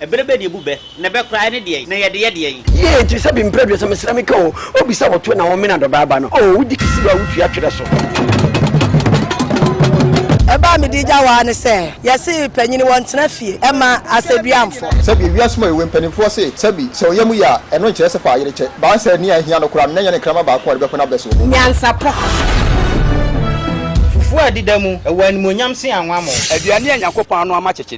Ɛberɛ bɛn na ɛbu bɛ, na ɛbɛ koraa ɛne deɛn, na yɛde yɛ deɛn? Yie nti sɛ bi mprɛ aduasa mesrɛ me ka o obi sɛ wo to na wo mena dɔbaa ba no oo wo di kisi wa wo tua twerɛ so. Ɛbaa me di gya waa ne sɛ yɛse panyini wɔ ntena fie ɛma asɛdua mfɔ. Sɛbi ewiase mu ewe mpaninfoɔ se sɛbi sɛ ɔya mu ye a ɛno nkyerɛ sɛ fa ayere kyɛ baa sɛ nea ahia no koraa no na ɛnyɛ ne nkrama baako a ɔde bɛko n'abɛ soɔ. Nyansapɔ. Fufuo a ɛdeda mu wɔ animuonyam sen anwammɔ. Aduane a Nyankopɔn ano ama kyekye.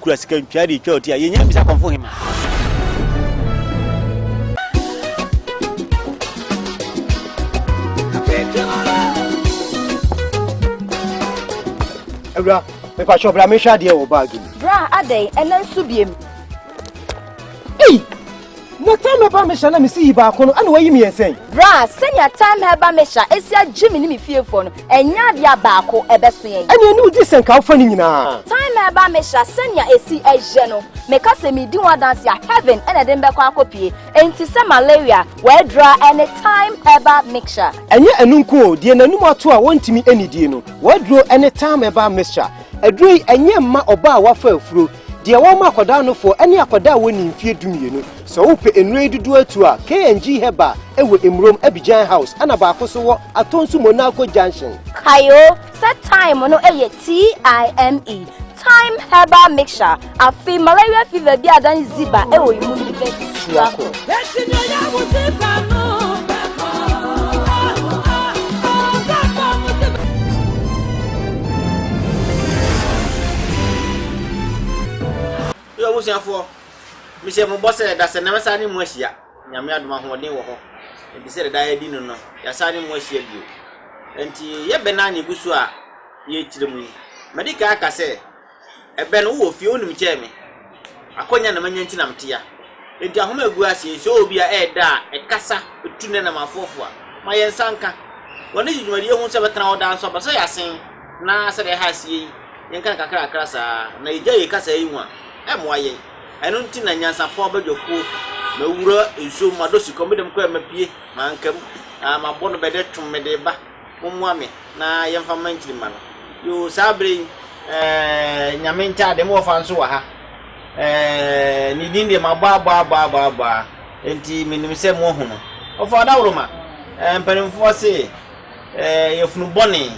kura sika ntwa de twa ɔti a yɛnya bisa kɔmfo hema. awura mepatwɛ bra mehwɛ adeɛ wɔ baage mu bra adɛn ɛnɛ nso biem ei Na Time-Heba Mesha na me si yi baako no, ɛna wɔayi me yɛn sɛn? Bra, sɛnea Time-Heba Mesha asi agye me ne me fiefoɔ no, ɛnyɛ adeɛ a baako ɛbɛso yɛn. Ɛnneɛ ne wodi sɛnka wofa ne nyinaa? Time-Heba Mesha sɛnea ɛsi yɛ no, meka sɛ medi ho adanse a, heaven na ɛde me bɛkɔ akɔpue. Enti sɛ malaria, wɔadura ɛne Time-Heba Mesha. Ɛnyɛ ɛno nko o, deɛ n'anom ato a wɔntumi nnidie no, wɔaduro ɛne Time-Heba Mesha. Aduro yi, ɛnyɛ mma ɔbaa a wafa afuro, Deɛ wɔma akwadaa nofoɔ ɛne akwadaa a wɔnni mfeɛ dumienu. Sɛ wopɛ nnuro yi dodoɔ atuo a, KNG Herbal wɔ Emurom, Abidjan House, ɛna baako nso wɔ Atonsu Monaco Junction. Kae o sɛ Thyme no yɛ T-I-M-E, Thyme Herbal Mixture. Afei malaria fever biara dan ziba wɔ emu no bɛ tua ko. Yo abusuafoɔ, mehyɛ mo bɔ sɛ dasɛ na mɛsan ne mo ahyia. Nyame adom ahoɔden wɔ hɔ. Ɛnti sɛ deda yɛdi no no, yɛasan ne mo ahyia bio. Ɛnti yɛbɛn na ne gu so a yɛkyerɛ mu yi. Madi kan aka sɛ, Ebɛn, wo wɔ fie, wonim kyɛɛ me. Akɔnya na manya nti na mete ya. Enti ahom a egu ase yi, sɛ ɔwɔ bi a, ɛyɛ dɛ a, ɛkasa, etu ne nam afoafo a, ma yɛn nsa nka. Wɔn de gye dwumadi a ehon sɛ ɛbɛtra hɔ daa nso aba. Sɛ yɛasen na sɛdeɛ ɛha asie yi, yɛnka no kakrakra saa ara, na yegyae yɛn kasaa yi ho a, ɛmmoa yɛn. Ɛno nti na nyansapɔ abadwakuo, mawura nsuom, madɔ sikɔm, me dɛm koraa a mapue, manka mu, na mabɔ no bɛ dɛ twom mede reba. Mommoa me na yɛmfa mma nkyirimma no. Yoo saa berɛ yi eh Nyame ntaadeɛ mo wɔfa nso wɔ ha eh Ne din deɛ mabɔ abɔ abɔ abɔ abɔ a enti menim sɛ moahu no Wɔfa ɔdaworoma eh mpanimfoɔ se eh yafunu bɔne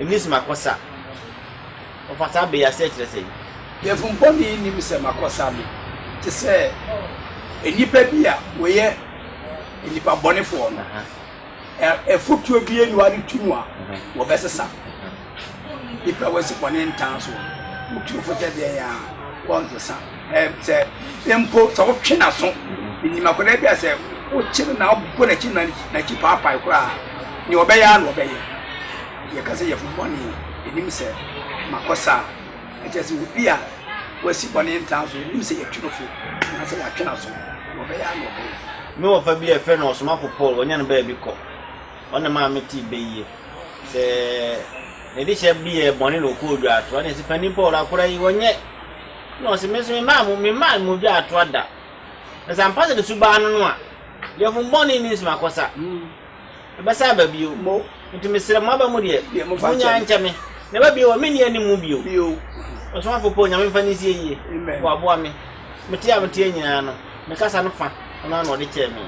nni so makɔsa Wɔfa saa berɛ yi aseɛ kyerɛ sɛn? Yafunu bɔne nnim sɛ makɔsa Me te sɛ nnipa bi a wɔyɛ nnipabɔnefoɔ no. Afotuo bi ni w'ade to mu a, wɔbɛsesa Nnipa a wɔasi bɔne ntaa so Wo tuo fo sɛ deɛn a, wɔnsesa Sɛ mpo sɛ wotwe n'aso Nim akwadaa bi a sɛ wokye no na wobɔ n'akyi na n'akyi paapae koraa a, deɛ ɔbɛyɛ ara na ɔbɛyɛ Yɛka sɛ yafunu bɔne, ɛnim sɛ makɔ saa Ɛkyerɛ sɛ obi a wasi bɔne ntaa so, yɛnim sɛ yɛatwe no fo anaasɛ yɛatwe n'aso, na ɔbɛyɛ ara na ɔbɛyɛ. Me wɔfa bi a yɛfrɛ no Ɔsomafo Paul, wɔnya no baabi kɔ. Ɔna maa metee bɛ yie. Sɛ ne dehyɛ bi yɛ bɔne na ɔkɔɔ dwaatoa, ɔne yɛse, Panin Paul, akora yi, ɔnyɛ. Na ɔse, Me nso memmaa mo, memmaa mo dwaatoa da. Na sɛ ampa sɛ ne su baa no no a, yɛfom bɔne ne nsu makɔsa. Ɛbɛsan aba bio. Mo. Enti mesrɛ mo, aba mu deɛ, Deɛ mofa nkyɛ monnyae me. nkyɛ me. Na ɛba bio a, menni anim mu bio. Bio. Ɔsomafoɔ Paul, Nyame mfa no nsie yie, Amen. waboa me. Mete a meteɛ nyinaa no, me kasa no fa, ɔno ara na ɔde kyɛɛ me.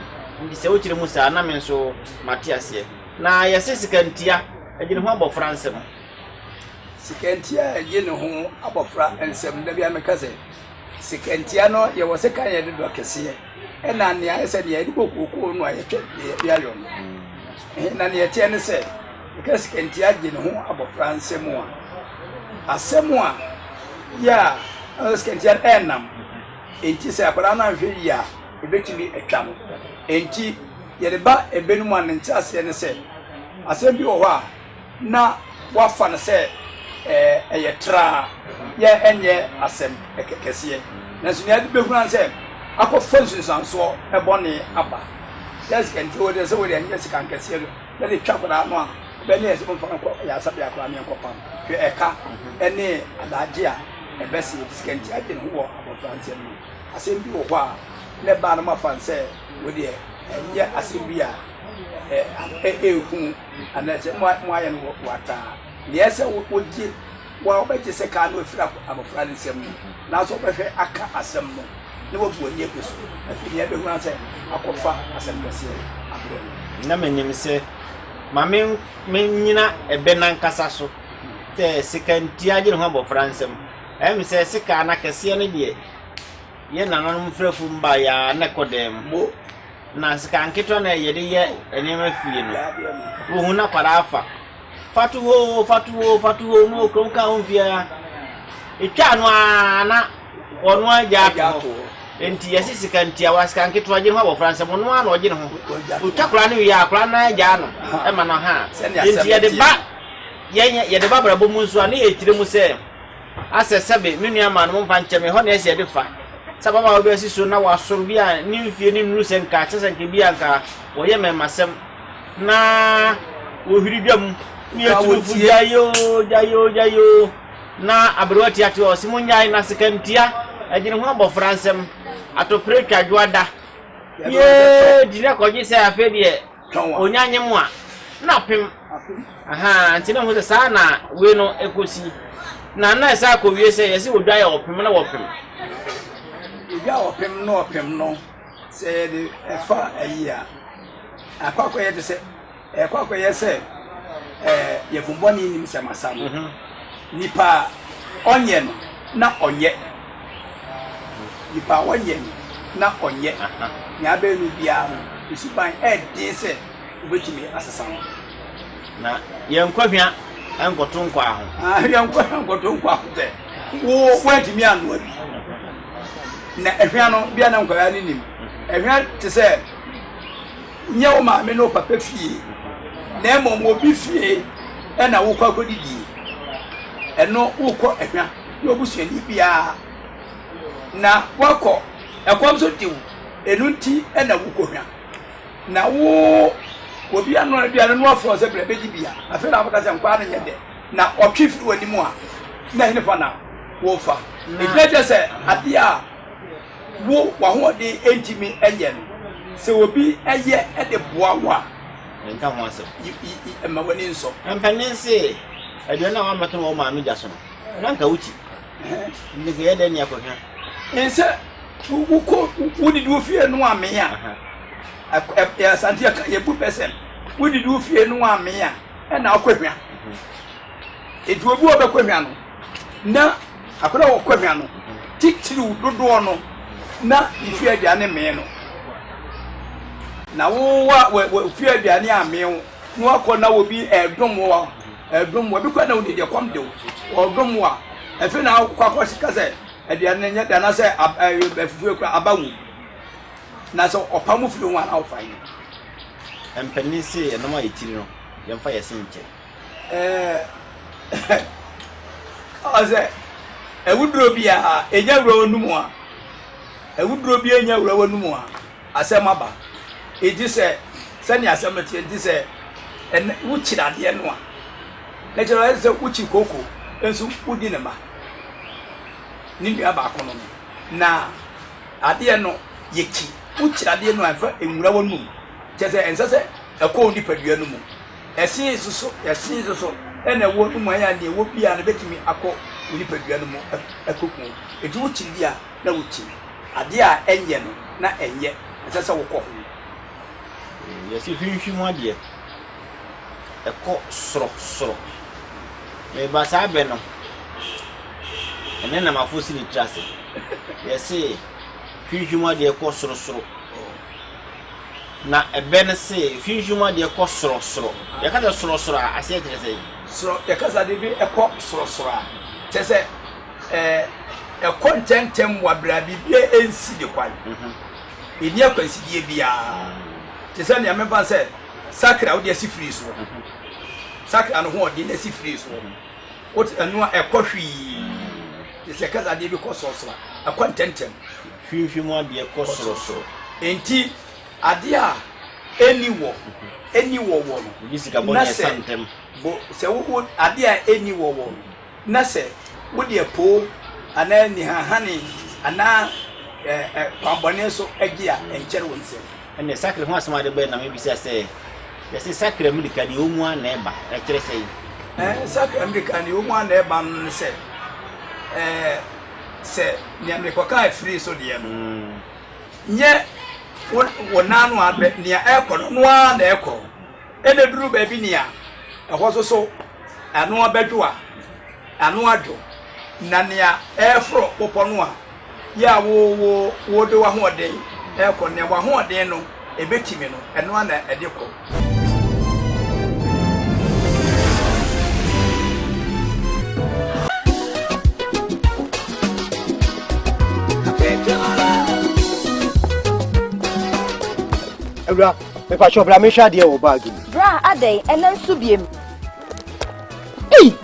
Enti sɛ wokyerɛ mu saa a, na me nso mate aseɛ. Na yɛse sika ntia agye ne ho abɔfra nsam. Sika ntia agye ne ho abɔfra nsam. Da biara meka sɛ, Sekantia no, yɛwɔ sɛ kan yɛde dɔ kɛseɛ ɛna nea ayɛ sɛ nea yɛde bɔ kookoo no a yɛtwɛ deɛ yɛde ayɔ no. Ɛhe na nea ɛteɛ ne sɛ yɛka sekantia gye ne ho abɔfra nsɛm a asɛm a yɛ a ɛwɔ sɛ sekantia no ɛnam. Enti sɛ akwadaa no anhwɛ yie a ɛbɛtumi atwa no. Enti yɛde ba ɛbɛ no mu a ne nteaseɛ ne sɛ asɛm bi wɔ hɔ a na wɔafa no sɛ ɛyɛ traa yɛ ɛnyɛ asɛm kɛseɛ. Nanso nea ɛde bɛhunu ara ne sɛ akɔfa nsunsuansoɔ bɔne aba. Yɛ sika nti o, sɛ wode ɛnyɛ sika nkɛseɛ no na de twa akwadaa no a, ɛbɛyɛ ne yɛ sɛ momfa no nkɔ ayaresabea koraa ne ɛnkɔpam. Hwɛ ɛka ne adaagye a ɛbɛsɛ yɛde sika nti adwene ho wɔ abɔfra nsɛm mu. Asɛm bi wɔ hɔ a na ɛbaa no moafa no sɛ wei deɛ ɛnyɛ asɛm bi a ɛyɛ hu. Anaasɛ moayɛ no wɔ w'ata a? Nea ɛsɛ sɛ wogye, wo a wobɛgye sekan no afiri abofra no nsam no, nanso wobɛhwɛ aka asɛm no na woabu ani agu so. Afei nea ɛbɛhunu ara ne sɛ akɔfa asɛm kɛseɛ abrɛ no. Na menim sɛ, ma mennyina ɛbɛ no ankasa so, sɛ sekantua agye ne ho abofra nsam. Ɛyɛ me sɛ sekan no akɛseɛ no deɛ. Yɛn nananom mfɛfo mma yɛ ara na ɛkɔ dan mu, na sika nketewa na yɛde yɛ nneɛma fie no. Wohu na kwadaa fa. Fa to hɔ oo, fa to hɔ oo, fa to hɔ oo, na ɔkurom ka ho fie ara. Etwa ano ara na ɔno ara gya ato hɔ. Enti yɛse sika ntiawa, sika nketewa, gye ne ho abɔfra nsam, ɔno ara na ɔgye ne ho. Ɔtwa akwadaa no wie a, akwadaa no ara gyaa no ma no ha. Enti yɛde ba yɛn yɛde ba abrabɔ mu nso a, na yɛkyerɛ mu sɛ, Asɛ sɛbe me nua maa no mo mfa nkyɛ me, ɛhɔ na ɛsɛ yɛde fa. Sɛ ababaawa bi asi so na wasɔre bi a ne mfie no nnuru sɛ nka kyerɛ sɛ nka ebi a nka wɔyɛ mmɛmmasɛm na wɔhwiri dwa mu ne yɛ tunufo gyae oo gyae oo gyae oo na aberewa tiate hɔ ɔse mo nyae na sekantia ɛgyene ho abɔfra nsɛm atɔpere twa dwoada yee gyina kɔgye sɛ afei deɛ onya nye mu a na apem ahaa nti na ɔhu sɛ saa na wei no ɛkɔsi na na ɛsɛ akɔwie sɛ yɛsɛ wɔdwa yɛ ɔpem na wɔpem yɛdwa ɔpem na ɔpem no sɛ yɛde ɛfa ayi a akɔ akɔyɛ te sɛ ɛkɔ akɔyɛ sɛ yɛfombɔne nim sɛ masa no mhm. nipa ɔnyɛ no na ɔnyɛ Nipa a ɔyɛ no na ɔnyɛ nea abɛyɛ no biara no, ne suban yɛ den sɛ obetumi asesa no. Na yɛnkɔ hwea nkɔto nkwaa ho. Ah, yɛnkɔ hwea nkɔto nkwaa ho sɛ wo woantumi anoa bi. Na ɛhwea no bia na nkwadaa no nim. Ɛhwea te sɛ nyɛ wo maame ne wo papa fie, na mmom obi fie na wokɔ akɔdidie. Ɛno wokɔ ɛhwea. ne obusuani biara, na woakɔ, ɛkɔm nso de wo, ɛno nti na wokɔhwa. Na wo, obi anoa aduane no wafrɛ sɛ brɛ bɛdi bia, afei na wobɛka sɛ nkwaa no nyɛ dɛ, na ɔtwe firi w'anim a, na hene fa na wofa. Ɛgyina kyerɛ sɛ adeɛ a wo w'ahoɔden ntumi nyɛ no, sɛ obi yɛ de boa wo a, ɛnka ho asɛm, mma w'ani nsɔ. Mpanin se, aduane a woammɛto wɔ wo maame gya so no, na anka wokyi. Nti nka yɛ dɛn ne akɔhwɛ? Nsɛ wokɔ wodidi wo fie no amee a, asante yɛka yɛbu pɛ sɛm, wodidi wo fie no amee a, ɛna akɔhwɛ. Nti obi wɔ bɛkɔhwɛ no, na akɔda wɔ kɔhwɛ no, titiriw dodoɔ no, na ne fie aduane mee no. Na wowa wɔ fie aduane amee wo. No akɔ na obi ɛdom wo ɛdom wo ebi kɔ na odi deɛ kɔm dew ɔdom wo a ɛfɛ na akɔ akɔ sika sɛ ɛdeɛ no nyɛ deɛ anasɛ ɛfufuo ekura aba wu na sɛ ɔpa mu firi ho a na ɔfa yi. Mpanyin se ɛnam a etiri no yɛn fa yɛ se nkyɛ. Ɛɛ ɔsɛ ɛwuduro bi a enya wura wɔn num a ɛwuduro bi enya wura wɔn num a. Asɛm aba. Enti sɛ, sɛnea asɛm no teɛ nti, sɛ ɛnnɛ wokyi dadeɛ no a, na kyerɛ ayɛ te sɛ wokyi kooko nso wodi ne mma, ne nua baako no no. Na adeɛ no, yɛkyi, wokyi dadeɛ no a, ɛmfa nwura w'anom. Kyerɛ sɛ, ɛnsɛ sɛ ɛkɔ wo nipadua no mu. Ɛsen so so, ɛsen so so, ɛna ɛwɔ w'anom a, ɛyɛ a nea ɛwɔ biara no bɛtumi akɔ wo nipadua no mu akɔku wo. Enti wokyi bi a, na wotumi. Adeɛ a ɛnyɛ no na ɛnyɛ, ɛsɛ sɛ wokɔ ho. Yɛse hwimhwi mu adeɛ, ɛkɔ soro soro. Meba saa bɛ no, ɛnɛ na mafo si ne tiri ase. Yɛse hwimhwi mu adeɛ kɔ soro soro. Na ɛbɛ no se hwimhwi mu adeɛ kɔ soro soro. Yɛka sɛ soro soro a, aseɛ kyerɛ sɛn? Soro, yɛka sɛ adeɛ bi ɛkɔ soro soro a, kyerɛ sɛ. ɛkɔ ntɛmntɛm wɔ aberɛ a biribiara ɛnsi ne kwan. Ɛnni akwansideɛ biara te sɛ nea memfa sɛ sakre a wode asi firi soɔ, sakre a no ho ɔden asi firi soɔ, wote ɛno a ɛkɔ hwii te sɛ kasa adeɛ bi kɔ sorosoro a ɛkɔ ntɛmntɛm. Hwimhwi mu adeɛ kɔ sorosoro. Enti adeɛ a ɛnni wɔ ɛnni wɔ wɔ no. Wodi sika bɔ na ɛsa ntɛm. Bo sɛ wo adeɛ a ɛnni wɔ wɔ no. Na sɛ wode ɛpo anaa anihanehane anaa kwammɔne nso gye a, ɛnkyɛre wo nsam. Ɛnneɛ sakra ho asɛm a ɛde bae na mebisa sɛ, Yɛse sakra mmirika nea ɛwɔ mu ara na ɛba, ɛkyerɛ sɛn? Sakra mmirika nea ɛwɔ mu ara na ɛba no ne sɛ, sɛ nea mekɔka afiri so deɛ no, nyɛ wo nan ano a nea ɛrekɔ no, ɛno ara na ɛrekɔ. Ɛna ɛduru baabi nea ɛhɔ soso ano abɛdwo a, ano adwo, na nea ɛreforo bepɔ no a, yɛ a wo wo wode w'ahoɔden rekɔ no, nea w'ahoɔden no ɛbɛtumi no, ɛno ara na ɛde kɔ. Awuraba, Mepakyɛ bra mehwɛ adeɛ wɔ baage mu. Bra adɛn ɛnɛ nso biem. Ei!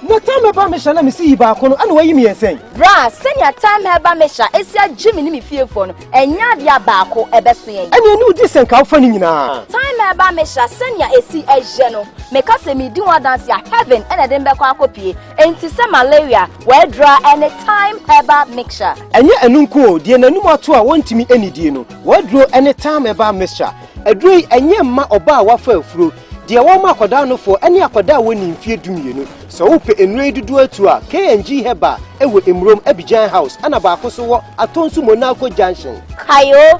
Na tam ɛba mehyɛ na mesi yi baako no ɛna wayi me yɛn sɛn? Bra sɛnea tam ɛba mehyɛ esi agye me ne me fiefoɔ no ɛnyɛ adeɛ a baako ɛbɛso yɛn. Ɛne ɛne wodi sɛ nka wofa ne nyinaa. Tam ɛba mehyɛ sɛnea esi ɛyɛ no meka sɛ medi ho adanse a heaven ɛna ɛde mbɛkɔ akɔpie enti sɛ malaria Wɔadura ne Thyme Herbal Mixture. Ɛnyɛ ɛno nko o, deɛ n'anum ato a wɔntumi nnidie no, wɔaduro ne Thyme Herbal Mixture. Aduro yi, ɛnyɛ mma ɔbaa a wafa afuro, deɛ wɔma akwadaa anofoɔ ne akwadaa a wɔnnii mfeɛ dumienu. Sɛ wopɛ nnuro yi dodoɔ atuo a, KNG Herbal wɔ Mmurom, Abidjan House, ɛna baako nso wɔ Atonsu Monaco Junction. Kayo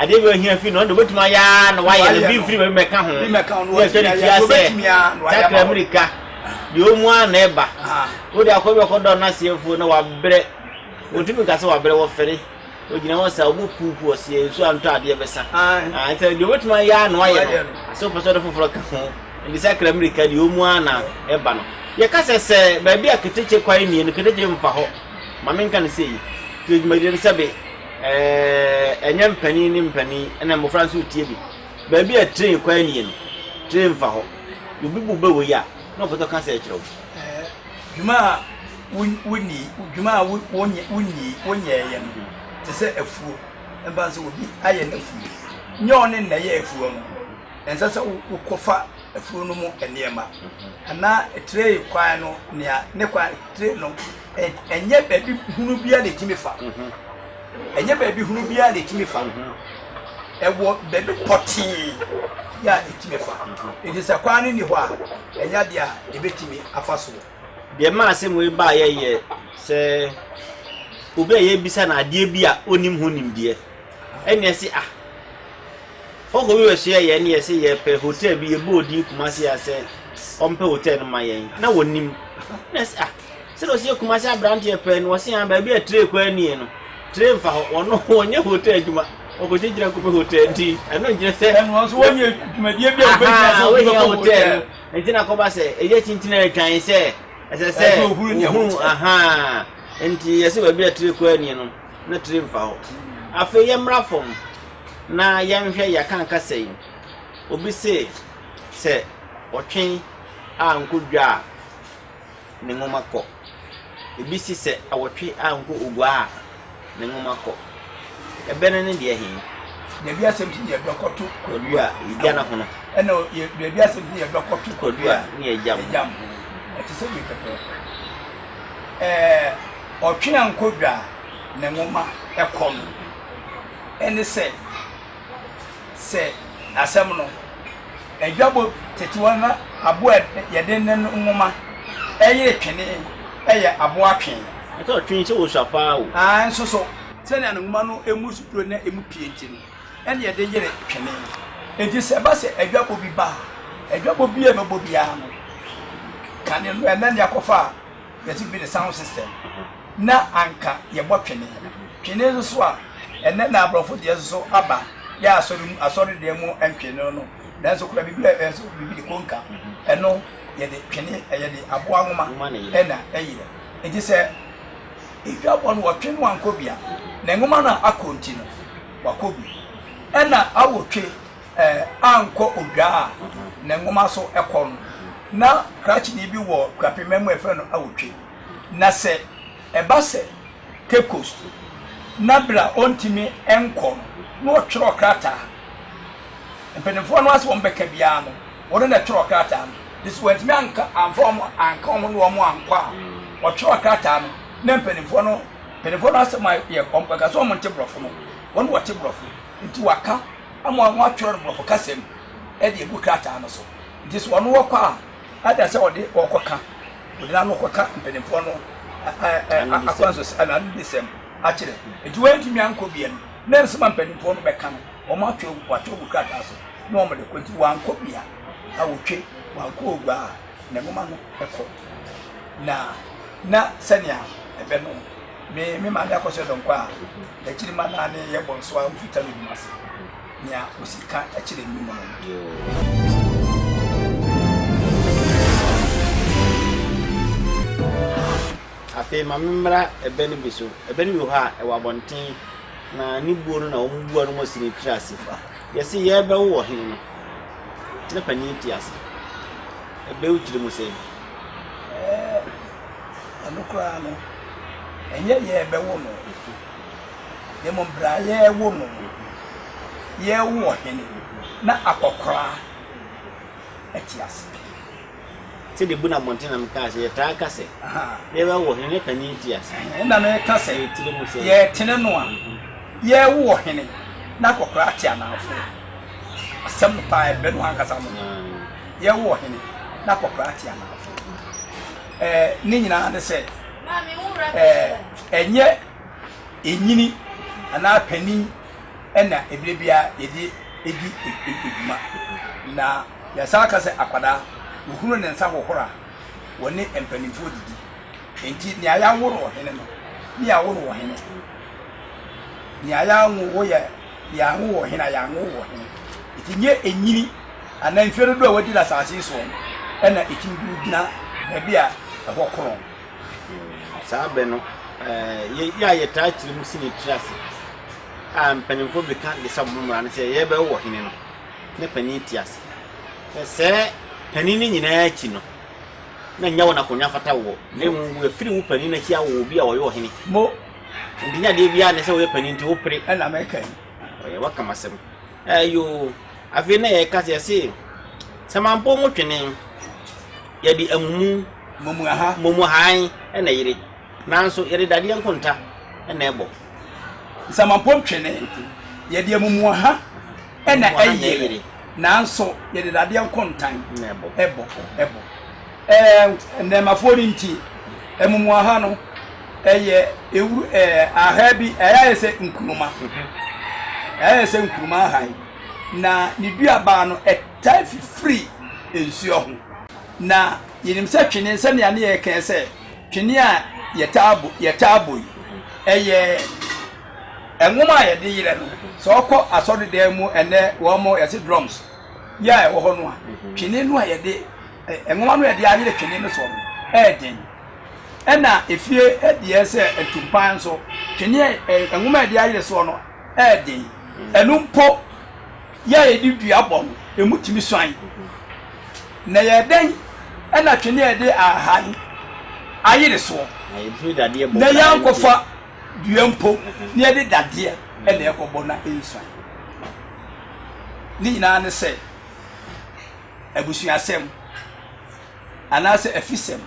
Adeɛ bi a ohia firi no, ɔno deɛ obɛtumi ayɛ ara na wayɛ no, obi mfiri baabi mmɛka ho, na ɛsɛ ne tia sɛ sakra mmirika, deɛ ɔmu ara na ɛba, wode akɔ bi ɔkɔ dɔ n'aseɛfoɔ na wabrɛ, wɔtumi nka sɛ wabrɛ, wɔfɛre, ɔgyina hɔ saa, ɔbɔ puupu ɔseɛ, nsuo antɔ adeɛ bɛsa, ɛsɛ deɛ obɛtumi ayɛ ara na wayɛ no, sɛ ɔpɛ sɛ ɔde foforɔ ka ho, nti sakra mmirika deɛ ɔmu ara na ɛba no. Yɛka sɛ sɛ baabi a ketekye kwan nie no, ketekye mfa hɔ, ma menka no sei, nti dwumadie no sɛbe. Ɛnyɛ mpanin ne mpanin na mmofra nso retie bi. Baabi a train kwan nie no, train fa hɔ. Obi bu bɛ wɔ yi a, na ɔpɛ sɛ ɔka asɛe kyerɛ wo. Dwuma a wonni, dwuma a wonni, wonyɛeɛ no te sɛ afuo. Ɛmfa ho sɛ obi ayɛ no afuo, nyɛ wo ne na ɛyɛ afuo no. Ɛnsɛ sɛ wokɔfa afuo no mu nneɛma anaa train kwan no, nea ne kwan, train no ɛnyɛ baabi hunu biara na ɛtumi fa ɛnyɛ baabi hunu biara na ɛtumi fa ɛwɔ baabi pɔtee yɛ a ɛtumi fa ɛti sɛ kwaa no nni hɔ a ɛnyɛ adeɛ a ɛbɛtumi afa soɔ deɛ maa asɛm wei baeɛ yɛ sɛ obi a yɛbisa no adeɛ bi a ɔnim ho nimdeɛ ɛne ɛse ah hɔkɔ bi bɛsoɛ yɛn ne yɛse yɛpɛ hotel bi yɛbɔ odin kuma se a sɛ ɔmpɛ hotel no ma yɛn na wɔnim na ɛse ah Sɛdeɛ ɔsi yɛ Kumasi abranteɛ pɛɛ no ɔsi aa baabi a tray kwan nie no tray nfa hɔ wɔn no wɔn nyɛ hotel adwuma wɔkɔ gye gyina nkɔpɛ hotel nti ɛno nkyerɛ sɛ ɛno nso wɔn yɛ dwumadie bi a wɔbɛ gyina sɛ wɔbɛ kɔ hotel nti na kɔba sɛ ɛyɛ tintin a ɛtwan sɛ ɛsɛ sɛ ohun ahaa nti yɛ sɛ baabi a tray kwan nie no na tray nfa hɔ afei yɛ mmra fam na yɛn hwɛ yɛ akanka sɛ yi obi se sɛ ɔtwen a nkɔ dwa a. ne nwoma kɔ. Ebi se sɛ awɔtwe ankɔ ogua a, ne nwoma kɔ. Ɛbɛ no ne deɛ he? Baabi asɛm ti yɛ bɛkɔto kwadua egya no hono. Ɛna baabi asɛm ti yɛ bɛkɔto kwadua ne egya mu. Egya mu. Ɛte sɛ wei pɛpɛɛpɛ. Ɛɛ ɔtwe ankɔ dwa a ne nwoma ɛkɔ no. Ɛne sɛ. sɛ asɛm no, adwabɔ tetewa na abo a yɛde nen nwoma yere twene yɛ abo atwe. Ɛka ɔtwe sɛ osua paa o. Aane nso so. Sɛnea ne nwoma no mu duro na emu pie nti no, ɛna yɛde yere twene. Enti sɛ ɛba sɛ adwabɔ bi ba a, adwabɔ bi a ɛbɛbɔ biara no, kane no, ɛnɛ nea kɔfa a. yɛse bi ne sound system na anka yɛbɔ twene twene nso so a ɛnɛ na aborɔfo deɛ nso so aba yɛ asɔre mu asɔre deɛ mu ntwene no no nanso kura biribi a ɛso biribi de konka ɛno yɛde twene yɛde aboa nwoma ɛna ɛyerɛ nti sɛ edwa bɔ no wɔtwe no ankɔ bia na nwoma no akɔ nti no wakɔ bi ɛna awotwe ankɔ odwa a ne nwoma so kɔ no, na krakyeni bi wɔ Kwapima mu a yɛfrɛ no Awotwe. Na sɛ ɛba sɛ Cape Coast na bere a ontumi nkɔ no, na ɔtwerɛ krataa. Mpanimfoɔ no ase a wɔbɛka biara no, ɔno na ɛtwerɛ krataa no. De sɛ wantumi anka amfa wɔn anka wɔn ne wɔn ankɔ a, ɔtwerɛ krataa no na mpanimfoɔ no mpanimfoɔ no asɛm ayɛ wɔn pɛ ka sɛ wɔn nte borɔfo no, wɔn na wɔte borɔfo nti wɔaka. Amoa ho atwerɛ no borɔfo kasa mu de agu krataa no so. Nti sɛ ɔno ɔkɔ a, adɛn sɛ ɔde ɔrekɔka, ɔde n'ano rekɔka mpanimfoɔ no akwansos anaa anibisɛm akyerɛ? Nti wantumi ankɔ bia no, na nsɛm a mpanimfoɔ no bɛka no, wɔatwerɛ wɔatwerɛ gu krataa so na wɔde kɔ. Nti wankɔ bia, awotwe, wankɔ ogua a, ne nwoma no kɔ. Na na sɛnea ɛbɛ no. Me me maame akɔhyɛ dɔnkɔ a n'akyiri ma naa ne yɛ bɔ nso a wofi talo dwuma ase nea osi ka kyerɛ me mu no. Afei ma memmra ɛbɛ no bi so. Ɛbɛ no bi wɔ hɔ a, ɛwɔ abɔnten, na ne buo no na wɔbua no ma ɔsi ne tiri ase. Yɛse yɛrebɛwo wɔ he no, na panin te ase. Ɛbɛ wo tirim sɛn? Ɛno koraa no, ɛnyɛ yɛɛ bɛwo no, na mmom bere a yɛrewo no no, yɛrewo ɔhene na akwakoraa te ase pii. Sɛdeɛ ebu na mmɔnten na mekaa sɛ yɛtaa ka sɛ yɛbɛwo ɔhene na panin te ase. Ɛnna mereka sɛ yɛretene no a, yɛrewo ɔhene na akwakoraa te anaafoɔ. Asɛm no paa, ɛbɛ no ankasa no. Yɛrewo ɔhene na akwakoraa te anaafoɔ. eh, ne nyinaa ne sɛ eh, ɛnyɛ ɛnyini anaa panin ɛna ɛberɛ biara yɛde ɛdi ɛdwuma na yɛsan ka sɛ akwadaa wɔhunu ne nsa hohora wɔne mpanimfoɔ didi enti nea yɛawo no wɔ hene no ne yɛawo no wɔ hene nea yɛawo wo yɛ yɛanwo wɔ he na yɛanwo wɔ he. Nti nyɛ enyini anaa mfie dodoɔ a wadi no asase yi soɔ no na ɛtumi de wo gyina baabi a ɛhɔ korɔn. Mm, saa bɛ no yɛ a yɛtaa kyerɛ mu si ne tiri ase a mpanimfoɔ bɛka de sɛ mo mmara no sɛ yɛbɛwo wɔ hene no na panin te ase sɛ sɛ panin no nyinaa akyi no na nyɛ wɔn akonnwa fata woɔ na mmom wɔafiri wo panin no akyi awo obi a ɔyɛ ɔhene Enti nyɛ adeɛ biara ne sɛ woyɛ panin nti wopere. Ɛna mɛka yi. Ɔyɛ waka m'asɛm. Ɛyoo. Afei na yɛka sɛ yɛse sɛ mampɔ mu twene yɛde amumu momu aha momu han ɛna yere nanso yɛde dadeɛ nkonta ɛna ɛbɔ. Nsamampɔm twene yɛde amumu aha. ɛna ɛyere, nanso yɛde dadeɛ nkontan ɛbɔ. ɛbɔ. Ɛɛ nnɛɛmafoɔ no nti, amumuaha no ɛyɛ ewuru ɛɛ ahaa bi ɛyɛ ayɛ sɛ nkuruma, ɛyɛ ayɛ sɛ nkuruma ahan, na ne duabaa no ɛtaa fifiri nsuo ho. Na yɛnim sɛ twene sɛnea ne yɛkɛn sɛ twene a yɛtaa bɔ yɛtaa bɔ yi ɛyɛ. Nwom a yɛde yerɛ no, sɛ ɔkɔ asɔredan mu ɛnɛ wɔn yɛse drums yi a ɛwɔ hɔ no a, twene no a yɛde nwoma no a yɛde ayere twene no soɔ no ɛyɛ den. Ɛna efie deɛ sɛ atumpan nso twene nwoma a yɛde ayere soɔ no ɛyɛ den. Ɛno mpo yɛ a yɛde dua bɔ no, emu tumi suan. Na yɛ dɛn ɛna twene a yɛde ahan ayere soɔ na yɛankɔfa Dua mpo, na yɛde dadeɛ na ɛkɔbɔ na ɛnsua. Ne nyinaa ne sɛ, abusuasɛm anaasɛ afisɛm,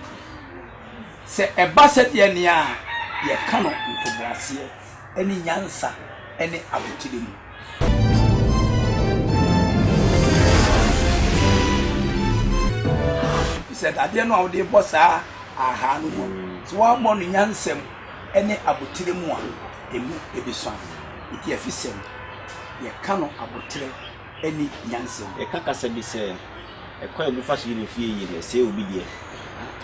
sɛ ɛba sɛdeɛ nea a, yɛka no ntoboaseɛ ne nyansa ne abotire mu. Efisɛ dadeɛ no a wode rebɔ saa ahaa no no, sɛ woammɔ no nyansam, ne aboterɛ mu a, ɛmu bɛsua. Enti afisɛm, yɛka no aboterɛ ne nyansa mu. Yɛka kasa bi sɛ, Ɛkwan a obi fa so yi no fie yie no, ɛsɛe obi deɛ.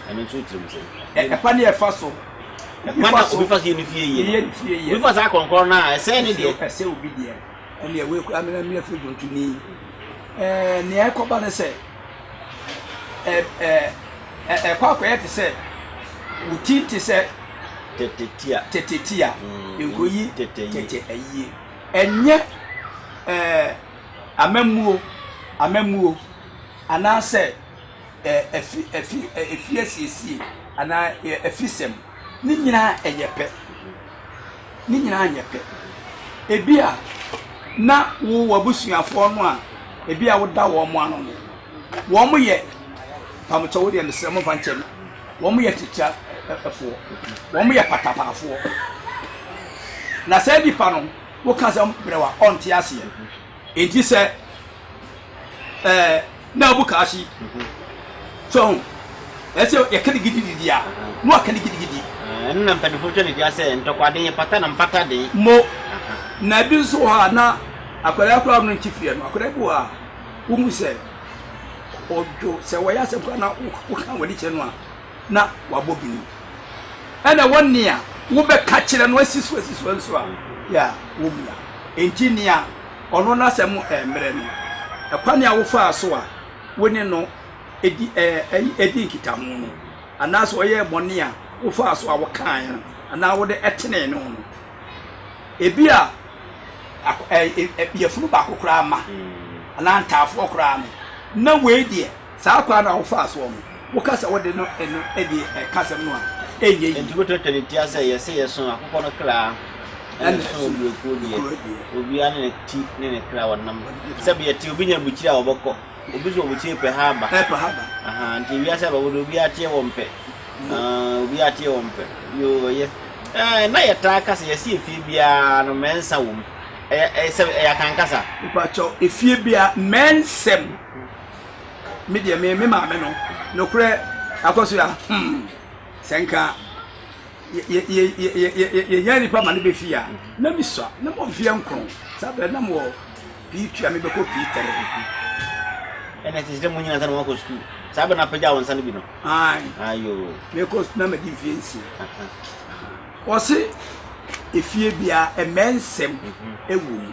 Ɛno nso wo tirim sɛn? Ɛkwan a ɛfa so. Ɛkwan a obi fa so yi no fie yie no, obi fa saa korɔnkorɔn no a, ɛsɛe ne deɛ. Ɛsɛe obi deɛ. Ɛnneɛ wei koraa, me na meyɛ afidie dwontoni. Ɛɛ, nea ɛkɔba ne sɛ, Ɛ ɛ ɛ ɛkɔ akɔyɛ te sɛ wo ti te sɛ tetetia tetetia mm, nkoyi tete tete ayie ɛnyɛ ɛ amamuo amamuo anaasɛ ɛ ɛfi ɛfi ɛfi asiesie anaa ɛfisɛm ne nyinaa ɛyɛ pɛ. ne nyinaa nyɛ pɛ. Ebia na wo w'abusuafoɔ no a ebia woda wɔn ano no, wɔn yɛ pamokyɛ wo deɛ mesrɛ mo nfa nkyɛ me, wɔn yɛ tikyafoɔ, wɔn yɛ patapaafoɔ, na saa nipa no woka sɛ brɛwa ɔnte aseɛ. Enti sɛ ɛɛ na ɔbu kaahye so ho ɛsɛ yɛka ne gidigidi a na waka ne gidigidi. Ɛno na mpanyinfoɔ twa ne dua sɛ ntɔkwaden yɛ pata na mpata den. Mo na ebi nso wɔ hɔ a na akwadaa koraa ɔno nti fie no akwadaa bi wɔ a wohu sɛ ɔdwo sɛ wɔyɛ asɛm koraa na woka wɔn ani kyerɛ no a na wabɔ bini. Ɛna ɛwɔ nea wobɛka kyerɛ no asi so asi so nso a, yɛ a wommua. Enti nea ɔno n'asɛm ɛmmrɛ no, ɛkwan a wofaa so a wo ne no di ɛɛ di nkitaho no, anaasɛ ɔyɛɛ bɔne a wofaa so a wokaeɛ no anaa wode ɛtenee ne ho no, ebi a ɛɛ yafunu baako koraa mma anaa ntaafoɔ koraa no, na wei deɛ. Saa kwan no a wofaa soɔ no, woka sɛ wode no ɛno adi ɛka asɛm no a, ɛnyɛ yie. Enti wotwa twene tia sɛ yɛse yɛso akokɔ no kra na yɛso oburokuo deɛ. Obiara ne ne ti ne ne kra wɔnam. Sɛbeɛ te, obi nya abukyire a ɔbɛkɔ, obi nso wɔ abukyire pɛ ha aba. Aha, nti wiase abɛbɔ deɛ obiara teɛ wɔn pɛ. Aah, obiara teɛ wɔn pɛ. Yoo, ɛyɛ. Ɛɛ, na yɛtaa ka sɛ yɛse efie biara no mmɛnsa wɔ mu. Ɛyɛ, ɛyɛ sɛbe, ɛyɛ Akan kasa? Mepakyɛw, efie biara, mmɛnsɛm. me deɛ me me maame no nokorɛ akɔ so a hmm sɛ nka yɛnya nipa ma no bɛfie a na mesua na mɔ mfeɛ nkron saa berɛ nam wɔ pii tua mebɛkɔ pii tɛre ɛna ɛte sɛ mo nyina sɛ na moakɔ sukuu saa berɛ no apagya wo nsa no bi no ayo mekɔ na madi mfeɛ nsia ɔse efie bia ɛmɛ nsɛm ɛwɔ mu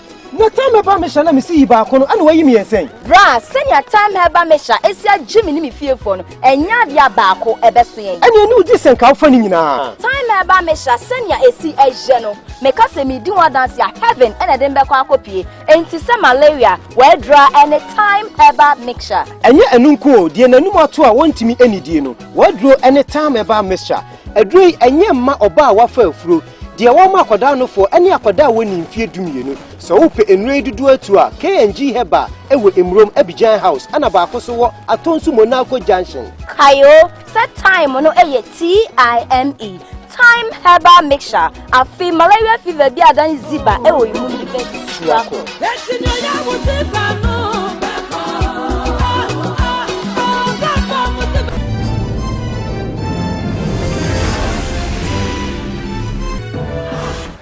Na Tamherba Mesha na misi yi baako no, ɛna wɔayi me yɛ sɛn? Bra, sɛnea Tamherba Mesha asi agye me ne me fiefoɔ no, ɛnyɛ adeɛ a baako ɛbɛso yɛn. Ɛnneɛ ne wogye sɛ nka wofa ne nyinaa? Tamherba Mesha, sɛnea ɛsi ɛyɛ no, meka sɛ medi ho adanse a, heaven na ɛde me bɛkɔ akɔpue. Enti sɛ malaria, w'aduro ara ɛne Tamherba Mesha. Ɛnyɛ ɛno nko o, deɛ n'anom ato a wɔntumi nnidie no, w'aduro ɛne Tamherba Mesha. Aduro yi, ɛnyɛ mma ɔbaa a wafa afuro, Deɛ wɔma akwadaa nofoɔ ne akwadaa a wɔnni mfeɛ dumienu. Sɛ wopɛ nnuro yi dodoɔ atuo a, KNG Herbal wɔ Emurom, Abidjan House, ɛna baako nso wɔ Atonsu Monaco Junction. Kae o sɛ Thyme no yɛ T-I-M-E, Thyme Herbal Mixture. Afei malaria fever biara dan ziba wɔ emu no bɛ tu akɔ.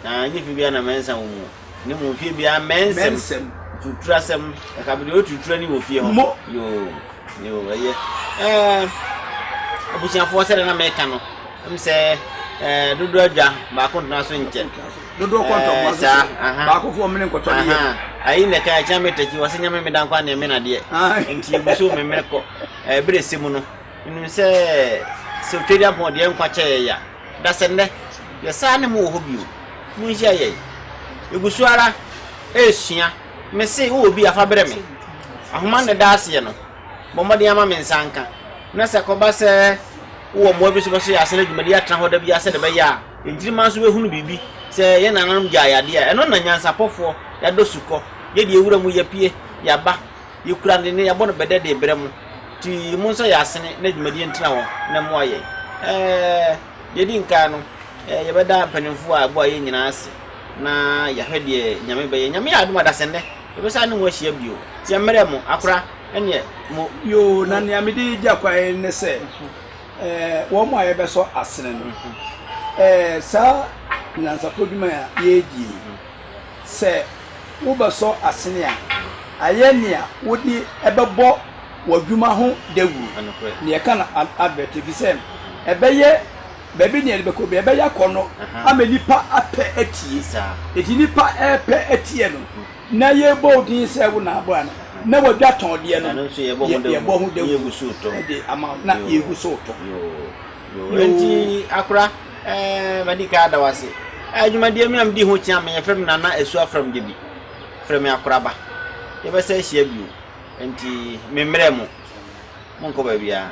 Na nye fi bia na mɛnsa wo mu ne mu fie bia mɛnsɛm tuturasɛm ɛka bi de o tutura ni wɔ fie hɔ yoo yoo ɛyɛ ɛɛ abusuafoɔ sɛdeɛ na mɛka no ɛm sɛ ɛɛ dodo adwa baako ntena so nkyɛ. dodoɔ kɔ ntɔboa so so baako fo ɔmene nkɔtɔ ne yɛ ayi na ɛka ɛkyɛn mɛtɛkyi wɔ sɛ nyame meda nkwa ne ɛmena deɛ nti yɛgu so memmerɛ kɔ ɛberɛ sɛ mu no nim sɛ sɛ otwadi apɔn deɛ nkwa kyɛ yɛ ya da sɛ nnɛ yɛ saa ne mu wɔ hɔ bio mu nhyia yɛ yɛgu so ara ɛresua me se wowɔ bi afa berɛ me ahoma ne da aseɛ no bɔ mmɔden ama me nsa nka na sɛ kɔba sɛ wowɔ mmoa bi so bɛso yɛ asɛn adwumadi atena hɔ da bi asɛ de bɛyɛ a Nkyirimma nso bɛhunu biribi sɛ yɛn nananom gyae adeɛ a, ɛno na nyansapɔfoɔ, yɛadɔ sukɔ, yɛ deɛ wura mu yɛpue, yɛaba, yɛkura ne nne, yɛabɔ no bɛdɛ de rebrɛ mo. Nti monsɔ yɛn asene na dwumadie ntena hɔ na mmoa yɛn. Ɛɛ, deɛ ɛdi nkan no, ɛɛ, yɛbɛda mpanimfoɔ a ɛboa yɛn nyinaa ase na yɛahwɛ deɛ Nyame bɛyɛ. Nyame yɛ adom a, Dasennɛ, yɛbɛsan ne mo ahyia bio. Nti ɛmmerɛ mo, akora, ɛneɛ mo. Yoo, na nea mede gya kwan ne sɛ. wɔn a yɛbɛsɔ asene no, saa nyansapɔ adwuma a yɛredi yi, sɛ wobɛsɔ asene a, ayɛ nea wode ɛbɛbɔ w'adwuma ho dawuru. Nea ɛka no advert efisɛ ɛbɛyɛ baabi nea yɛde bɛkɔ bi ɛbɛyɛ akɔnɔ ama nipa apɛ atie. Eti nipa ɛpɛ atie no. Na yɛbɔ wo din sɛ wo na abɔ a na wɔadwa tɔn deɛ no, yɛbɔ ho dawuro de ama wo na yɛgu so retɔ. Yoo. Enti akora, eh, madi kan ada wo ase. Eh, dwumadie me a medi ho kyea me, yɛfrɛ me Nana Asuah Frɛm Gyebi. Frɛ me akora ba. Yɛbɛsan ahyia bio. Enti memmrɛ mo, monkɔ baabiara.